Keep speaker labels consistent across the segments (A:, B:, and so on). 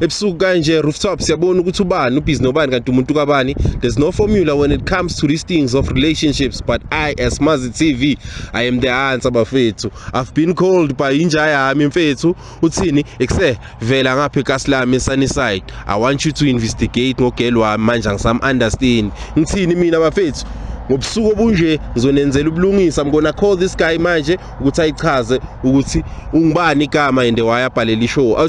A: ebusuku kanje rooftop siyabona ukuthi ubani ubhizi nobani kanti umuntu kabani there's no formula when it comes to these things of relationships but i as mazi tv i am the answer bafethu i've been called by inja yami mfethu uthini ekuse vela ngapha ekasilami sunnyside i want you to investigate ngogel wami manje angisam understand ngithini mina bafethu ngobusuku obunje ngizonenzela ubulungisa mkona call this guy manje ukuthi ayichaze ukuthi ungubani igama and wayabhalela ishow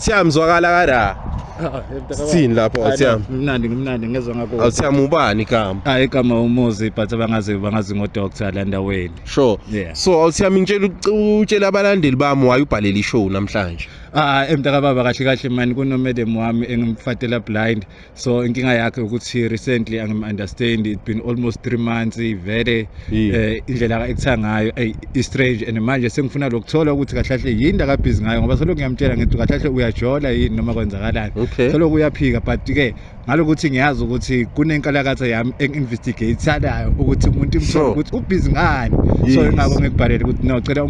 A: Siyam zwakala kara. Sithini lapho awuthiyami? Ngimnandi ngimnandi ngezwe
B: ngakho. Awuthiyami ubani igama?
A: Hayi igama umuzi but
B: bangazi bangazi ngo doctor la ndaweni. Sure. Yeah. So
A: awuthiyami
B: ngitshela
A: utshela abalandeli bami waye ubhalele ishow namhlanje. Ah emntaka baba
B: kahle kahle mani kunomadam wami engimfatela blind so inkinga yakhe ukuthi recently angim understand it been almost 3 months ivele eh indlela ekutha ngayo ay i strange and manje sengifuna lokuthola ukuthi kahlahle yini aka busy ngayo ngoba solo ngiyamtshela ngithi kahlahle uyajola yini noma kwenzakalani solo kuyaphika but ke ngalokuthi ngiyazi ukuthi kunenkalakatha yami enginvestigate salayo ukuthi umuntu imthola ukuthi ubusy ngani so ingakho ngikubhalele ukuthi no cela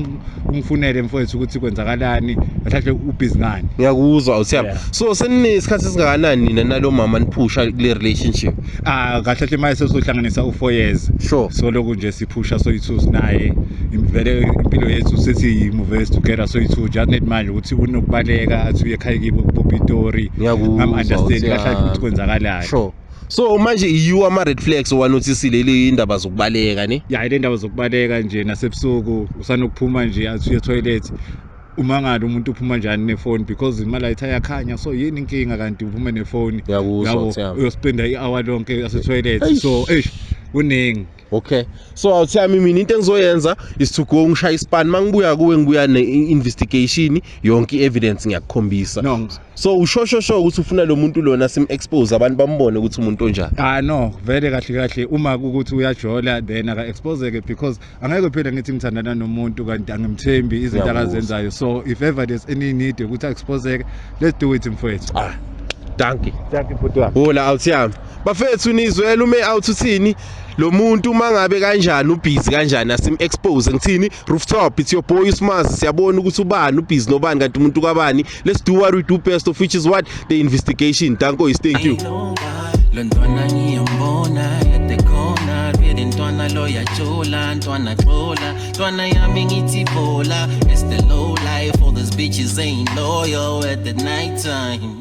B: ungifunele mfowethu ukuthi kwenzakalani mhlawumbe ubhizi ngani ngiyakuzwa uthemba
A: Yeah. so seninesikhathi esingakanani nina nalo mama niphusha kule relationship ah kahle hle manje
B: sesohlanganisa u4 years sure so lokhu nje
A: siphusha
B: soyithu sinaye imvele impilo yethu sethi move together soyithu just need manje ukuthi unokubaleka athi uye ekhaya kibo kupopitori Ngiyakuzwa, ngam understand uthi, kahle ah. ukuthi kwenzakalayo sure so
A: manje yiwo ama-red flags owanothisile indaba zokubaleka ne ya ile ndaba zokubaleka
B: nje nasebusuku usanokuphuma nje athiye toilet umangala umuntu uphuma njani nefoni because imali ayitha yakhanya so yini inkinga kanti uphume nefoni yabo
A: uyospenda i-hour
B: lonke asetoilet so eish kuningi okay
A: so awuthami mina into engizoyenza is to go ngishaya ispan mangibuya kuwe ngibuya ne investigation yonke evidence ngiyakukhombisa no so
B: ushosho sho
A: ukuthi ufuna lo muntu lona sim expose abantu bambone ukuthi umuntu onjani ah no vele kahle
B: kahle uma ukuthi uyajola then aka expose ke because angeke phela ngithi ngithandana nomuntu kanti angimthembi izinto akazenzayo so if ever there's any need ukuthi expose let's do it mfowethu ah dankie
A: dankie bhuti wami hola
B: awuthami
A: bafethu nizwela ume out uthini lo muntu uma ngabe kanjani ubhizi kanjani asim-expose ngithini rooftop it's your boy usmazi siyabona ukuthi ubani ubhizi nobani kanti umuntu kabani let's do what we do best of which is what the investigation danko is thank you lo ntwana
C: ngiyambona yatekhona really ntwana lo yajula ntwana xola ntwana yami ngithi bola it's the low life all these bitches ain't loyal at the night time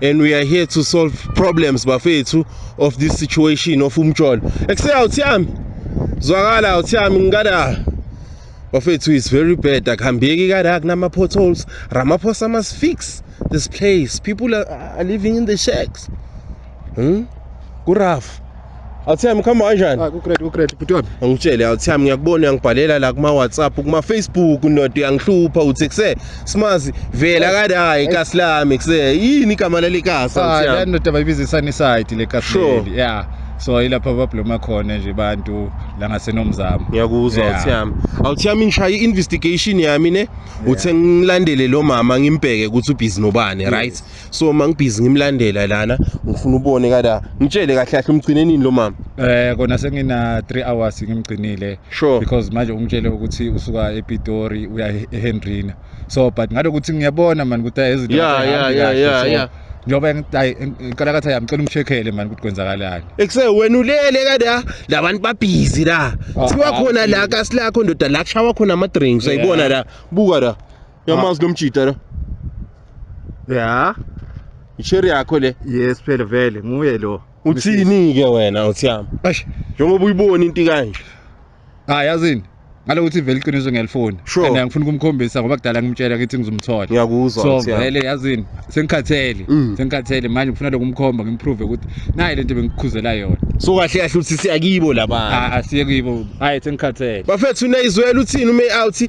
A: and we are here to solve problems bafethu of this situation of umjolo ekuseka uthi yami zwakala uthi yami ngikada bafethu is very bad akuhambeki kada kunama potholes ramaphosa must fix this place people are, are living in the shacks hmm? kuraf Awuthembi khamba kanjani? Ah, kugrade kugrade bhuti wami.
B: Angitshele awuthembi ngiyakubona
A: uyangibhalela la kuma WhatsApp kuma Facebook ndoda uyangihlupha uthi kuse simazi vela kade hayi ikasi lami kuse yini igama leli kasi Ah, la awuthembi. ndoda bayibiza iSunnyside
B: le Sure. Kahleli. Yeah. So ilapha babloma khona nje abantu la ngasenomzamo. Ngiyakuzwa Yeah. awuthembi.
A: Awuthembi ngishaye investigation yami ne uthe ngilandele lo mama ngimbheke ukuthi ubhizi nobani right? so mangibhizi ngimlandela lana ngifuna ubone kada ngitshele kahle kahle umgcine nini lo mama eh kona sengina
B: 3 hours ngimgcinile sure. because manje ungitshele ukuthi usuka ePitori uya eHenrina so but ngalokuthi ngiyabona
A: man ukuthi
B: izinto yeah yeah yeah yeah, so, yeah njengoba ngicela kathi ayamcela umchekhele mani ukuthi kwenzakalani ekuse wena ulele
A: kada labantu babhizi la ah, siwa ah, khona la kasi lakho ndoda la kushawa khona ama drinks uyayibona la buka la Yamazi lo mjita lo.
B: Ya.
A: Isheri yakho le. Yes phela vele
B: nguye lo. Uthini ke
A: wena uthiyama? Eish. Njengoba
B: uyibona into
A: kanje. Ah yazini.
B: Ngalo ukuthi vele iqiniso ngiyalifuna. Sure. And angifuni kumkhombisa
A: ngoba
B: kudala ngimtshela ukuthi ngizomthola. Ngiyakuzwa. So vele
A: yazini
B: sengikhathele. Mm. Sengikhathele manje ngifuna lokumkhomba ngimprove ukuthi nayi lento bengikhuzela yona. So kahle kahle uthi
A: siyakibo labantu. Ah asiye kibo. Hayi
B: sengikhathele. Bafethu unayizwela
A: uthini ume out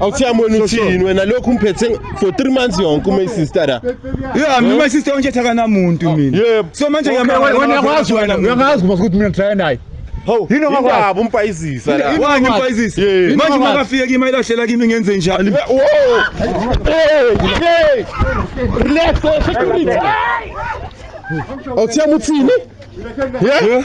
D: awuthiyami wena
A: uthini wena lokhu umphethe for three months yonke uma isister la yeah mina my sister
D: onje thakana muntu mina yebo so manje
A: ngiyakwazi
D: wena
B: ngiyakwazi uma ukuthi mina try naye Hawu, yini ongakwazi
A: umpayizisa la. Wani umpayizisa?
D: Manje uma kafike kimi ayilahlela kimi ngenze njani? Wo! Hey!
A: Hey! Relax, security. Awuthiyami uthini? Yeah.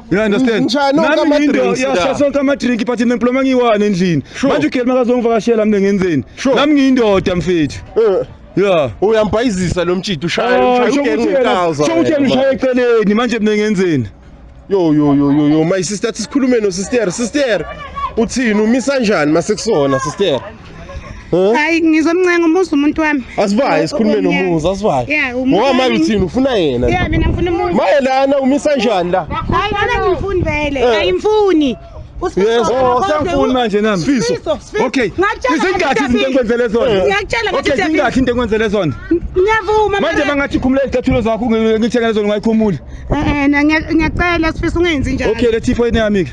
D: You understand? Ngishaya nonke Nami ngindo ama-drinks
A: la. yasha sonke ama-drink
D: but mina ngiploma ngiyi-one endlini. Sure. Manje uGeli makazongivakashela mina ngenzeni? Sure. Nami ngiyindoda mfethu. Eh, Yeah. uyambhayizisa lo
A: mtshito ushaya Oh, ushaya sho ugenge ukuthi yena- ngekaza sho ukuthi yena wena, ushaya
D: eceleni manje mina ngenzeni? yo yo yo
A: yo yo my sister athi sikhulume no sister sister uthini umisa njani masekusona sister hayi
E: ngizomncenga umuzi umuntu wami asibaye sikhulume
A: nomuzi asibaye ngoba manje uthini
E: ufuna
A: yena yeah mina ngifuna umuzi maye
E: lana umisa njani la hayi lana ngifuni vele eh.
A: ayimfuni Yes, oh, siyangifuni
D: manje nami. Sifiso.
A: Okay.
D: Izingathi izinto engikwenzele zona. Eh. Ngiyakutshela ngathi okay, izingathi
E: into engikwenzele
D: zona. Ngiyavuma. Manje
E: mangathi khumula
D: izicathulo zakho ngithekele zona ungayikhumuli. Eh, eh ngiyacela
E: sifiso ungenzi njalo. Okay, lethi ifoni yami ke.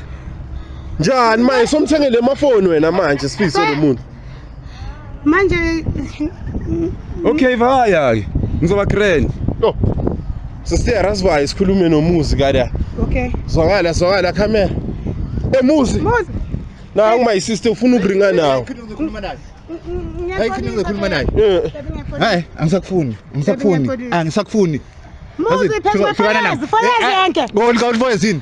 D: Njani
A: manje somthengele amafoni wena manje sifise lo muntu. Manje Okay vaya ke. Ngizoba grand. Yo. Sister Rasbay sikhulume nomuzi kada. Okay. Zwakala
E: zwakala
A: camera. Emuzi. Muzi.
E: Na uma my
A: sister ufuna ukuringa nawo. Ngikhuluma naye. Hayi khona
B: ngikhuluma naye. Eh. Hayi angisakufuni. Angisakufuni. Angisakufuni. Muzi
E: phezulu. Fayezi yonke. Ngolika ulifoyezini.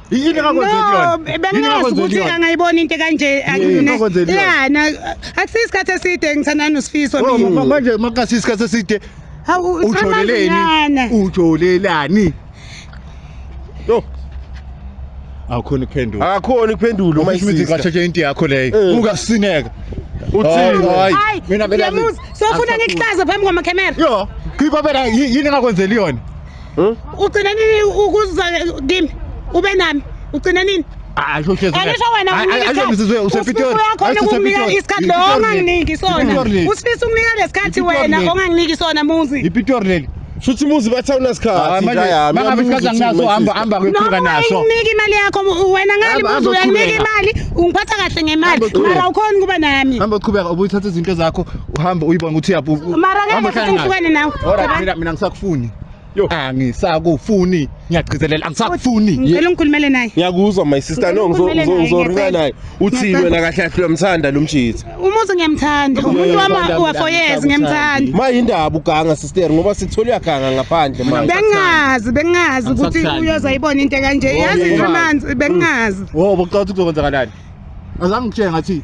A: yini engakwenzeli
B: No, yona Yini bengazi engakwenzeli ukuthi
E: yona? angayibona into kanje Yini akune. engakwenzeli yona? Ya, na akusiyo isikhathi eside ngithandana nosifiso Oh, mina. ma- manje makasi isikhathi
B: eside Hawu
E: ujoleleni usamanyana.
B: ujolelani
A: yo
B: awukhona ukuphendula akakhona ukuphendula uma
A: umasisi isisa ngashatshe into yakho
B: leyo Eh. ungasineka uthini Hayi,
A: Hayi, mina
B: mina uyamuzi. Sofuna ngikuhlaze
E: phambi kwamakhamera. yo khipha phela
B: yi- yini engakwenzeli yona Hmm? Ugcina
E: nini ukuza kimi? Ube nami. Ugcina nini? Asho hlezi. Angisho
B: wena
E: unikisa. Usizwe usepitori.
B: Uyakhona ukumnika
E: isikhathi lo onganginiki sona. Usifisa ukumnika lesikhathi wena onganginiki sona muzi. Ipitori leli.
B: Shuthi muzi batha
A: unasikhathi. Ah, manje mangabe isikhathi
B: anginaso hamba hamba kwephuka naso. Noma unginiki imali yakho
E: wena ngani muzi uyanginika imali ungiphatha kahle ngemali. Mara ukhona kuba nami. Hamba uqhubeka ubuyithatha
B: izinto zakho. uhambe uyibona ukuthi uyabu mara Hamba ngeke uhlale naye.
E: ngihlukane nawe Alright, mina mina ngisakufuni
B: Yo. angisakufuni ngiyagcizelela angisakufuni ngicela ungikhulumele naye
E: ngiyakuzwa my sister no ngizo-
A: Ngikhulumele ngizo- naye, ngizoringa ngiyacela. naye uthini Ngiyacela. wena kahle kahle uyamthanda lo mjitha umuzi ngiyamthanda
E: umuntu Ngiyamthanda, wami mina wafoyez ngiyamthanda. ngiyamthanda mayindaba uganga
A: sister ngoba sithole uyaganga ngaphandle manje bengazi bengazi
E: ukuthi Angisakuthandi. uyoza yibona into kanje yazi yeah. nje amanzi bengazi wobo cela ukuthi
B: kuzokwenzakalani azange ngitshenge ngathi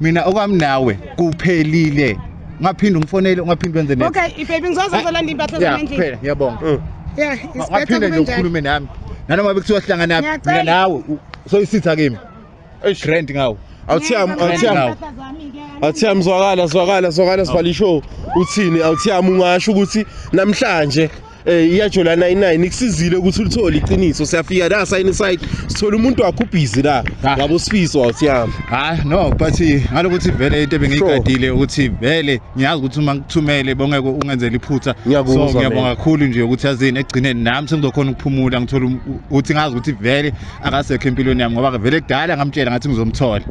B: mina okwami nawe kuphelile ungaphinde ungifonele ungaphinde wenze ne okay ibaby ngizoze
E: ngizolanda impahla zami endlini kuphela ngiyabonga mm.
B: yeah
E: ungaphinde nje ukhulume
B: nami nanoma bekuthiwa sihlangana naphi mina nawe soyisitha kimi grand ngawo awuthiyami awuthiyami awuthiyami
A: zwakala zwakala zwakala sibhala ishow uthini awuthiyami ungasho ukuthi namhlanje Eh iyajola 99 ikusizile ukuthi ulithole iqiniso siyafika la sign side sithola umuntu wakho ubhizi la Ah. ngabo sifiso awusiyami hayi no but
B: ngalokuthi vele into ebengiyigadile ukuthi vele ngiyazi ukuthi uma ngikuthumele bongeke ungenzele iphutha Ngiyakuzwa, so ngiyabonga man. kakhulu nje ukuthi yazini ekugcineni nami sengizokhona ukuphumula ngithole um- ukuthi ngazi ukuthi vele akasekho empilweni yami ngoba vele kudala ngamtshela ngathi ngizomthola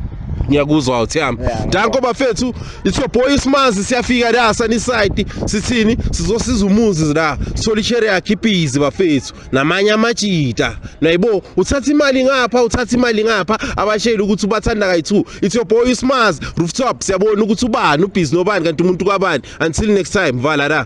B: ngiyakuzwa
A: awusiyami danko bafethu It's your boy Smazi siyafika la Sunnyside sithini sizosiza umuzi la sithola ishere yakhe ibhizi bafethu namanye amajita nayibo uthatha imali ngapha uthatha imali ngapha abashayeli ukuthi ubathanda kayi2 it's your boy Smazi rooftop siyabona ukuthi ubani ubhizi nobani kanti umuntu kwabani until next time vala la